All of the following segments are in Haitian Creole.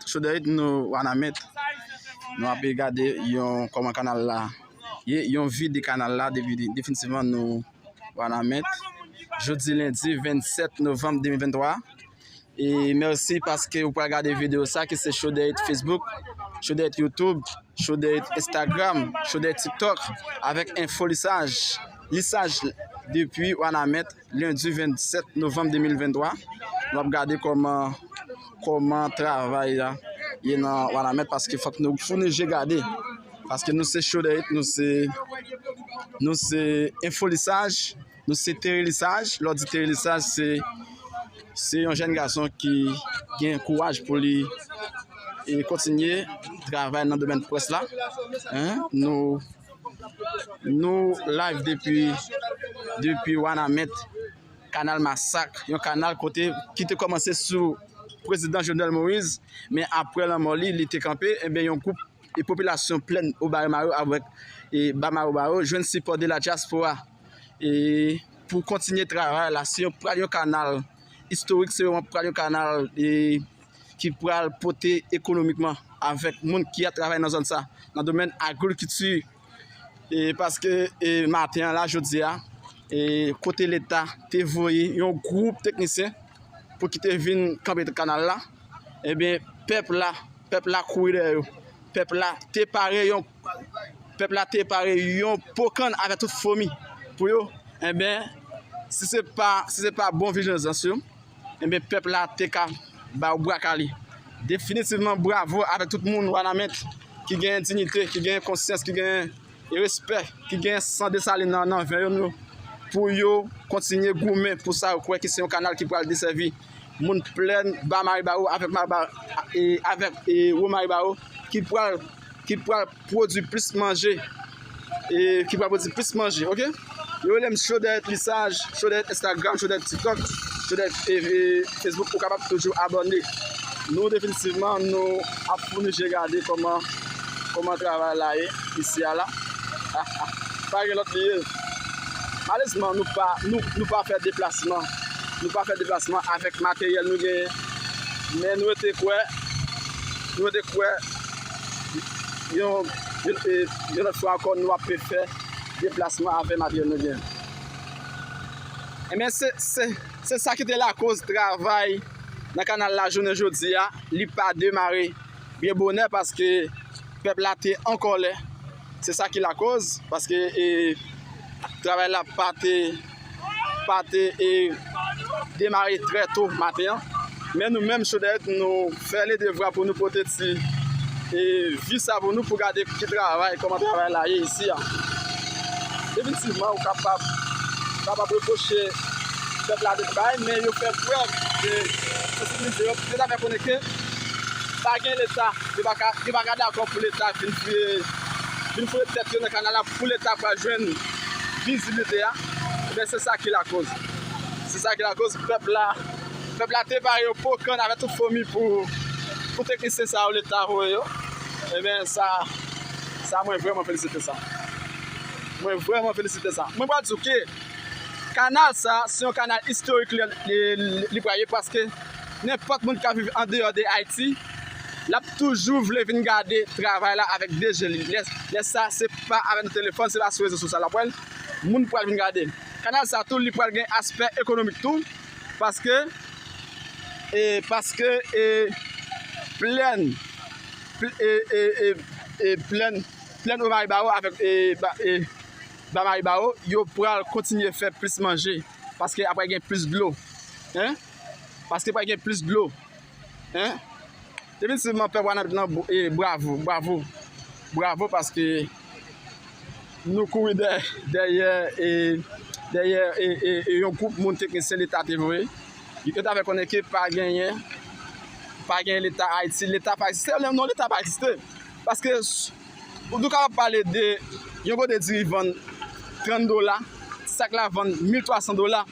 Choderit nou wanament Nou api gade yon kòman kanal la Ye yon vi de kanal la Definitivman nou wanament Jodi lendi 27 novem 2023 E merci paske ou pral gade video sa ki se show de it Facebook, show de it YouTube, show de it Instagram, show de it TikTok avèk info lisaj, lisaj depi Wanament lundi 27 novembre 2023 nou ap gade kòman kòman travay la ye nan Wanament paske fòk nou founi je gade paske nou se show de it nou se nou se info lisaj. Nou se Terry Lissage, lè w di Terry Lissage se se yon jèn gason ki gen kouraj pou li e kontinye travay nan domèn près la. Nou nou live depi depi Wanament, kanal Masak, yon kanal kote ki te kòmanse sou prezidan Jovenel Moïse, men apre lanmò li, li te kanpe, enben yon gwoup e popilasyon plèn Obaremaryo avèk e Bamarobayo jwenn sipò de la dyaspora. e pou kontinye travay la se pral yon kanal istorik se yon pral yon kanal e ki pral pote ekonomikman avèk moun ki ap travay nan zòn sa nan domèn agrikulti e paske e maten an la jodi a e kote leta te voye yon gwoup teknisyen pou ki te vin kanpe kanal la e ben pèp la pèp la kouri dèyè yo pèp la te pare yon Pèp la te pare yon po kann avè tout fomi pou yo, enben, si se pa, si se pa bon vijanzans yo, enben pèp la te ka ba yo bra kale. Definitivman bravo avèk tout moun Wanament ki genyen dignite, ki genyen konsyans, ki genyen respè, ki genyen san Desalin nan nan ven yon yo pou yo kontinye goumen pou sa yo kwè ki se yon kanal ki pral desèvi moun plèn Ba Maribaro avèk Maribaro avèk Wo Maribaro ki pral ki pral pwodwi plis manje e ki pral pwodwi plis manje ok yo relem cho dèyèt lisaj cho dèyèt instagram cho dèyèt tiktok cho dèyèt facebook ou kapab toujou abòne nou definitivman nou ap founi je gade kòman kòman travay la ye isi a la ha ha pa gen lòt li ye malezman nou pa nou pa fè deplasman nou pa fè deplasman avèk materyèl nou genyen men nou rete kwè nou rete kwè Yon lòt fwa ankò nou ap refè deplasman avèm avyon nou gen. Enben se sa ki te lakoz travay nan kanal la jounen jodi a li pa demare byen bonè paske pèp la te an kòlè. Se sa ki lakoz paske travay la pa te. pa te demare trè to maten an, men nou menm Sodèk nou fè le devwa pou nou pote ti vi sa pou nou pou gade ki travay, kòman travay la ye isi a. Definitivman ou kapab reproche pèp la de bay, men yo fè prèv de sansibilite yo, yo ta fè konnen ke pa gen leta, yo pa ka dakò pou leta vin fouye tèt yo nan kanal la. Pou leta pa jwenn viziblite a, men se sa ki lakoz, se sa ki lakoz pèp la, pèp la te pare yo po kann avèk tout fomi pou pou teknisyen sa yo leta voye yo, enben sa, sa mwen vrèman felisite sa, mwen vrèman felisite sa. Mwen pral di w ke kanal sa a se yon kanal istorik li pral ye paske nenpòt moun k ap viv andeyò de Ayiti, Lap toujou vle vin gade travay la avèk 2 je li lè sa se pa avèk telefòn se pa sou rezo sosyal lap wèl moun pral vin gade kanal sa tou li pral gen aspè ekonomik tou paske e paske e plèn e e e plèn plèn o maribawo avèk e e ba maribawo yo pral kontinye fè plis manje paske aprè gen plis dlo hein paske pral gen plis dlo. Hein Definitivman pèp wanament lan bravo bravo bravo paske nou kouri dèyè e dèyè e yon gwoup moun teknisyen leta te voye yo ta fè konnen ke pa genyen pa genyen leta ayiti leta pa egziste non leta pa egziste paske Ou tou kapab pale de yon kote diri vann 30 dola, sak la vann 1300 dola.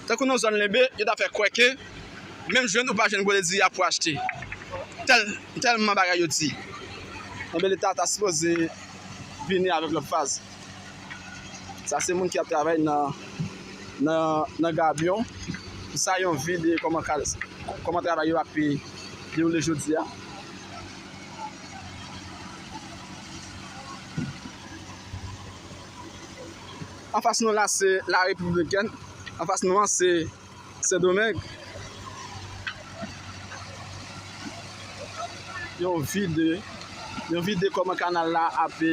Tankou nan zòn Lenbe, yo ta fè kwè ke menm jwenn ou pa jwenn kote diri a pou achte. Tèlman bagay yo di. Enben leta ta sipoze vini avèk lòt faz. Sa se moun ki ap travay nan gabyon. Sa yon vi de kòman travay yo ape dewoule jodi a. Anfas nou la se la Repiblik Dominikèn, anfas nou an se Sendomeng. Yon vide, yon vide kòman kanal la ape.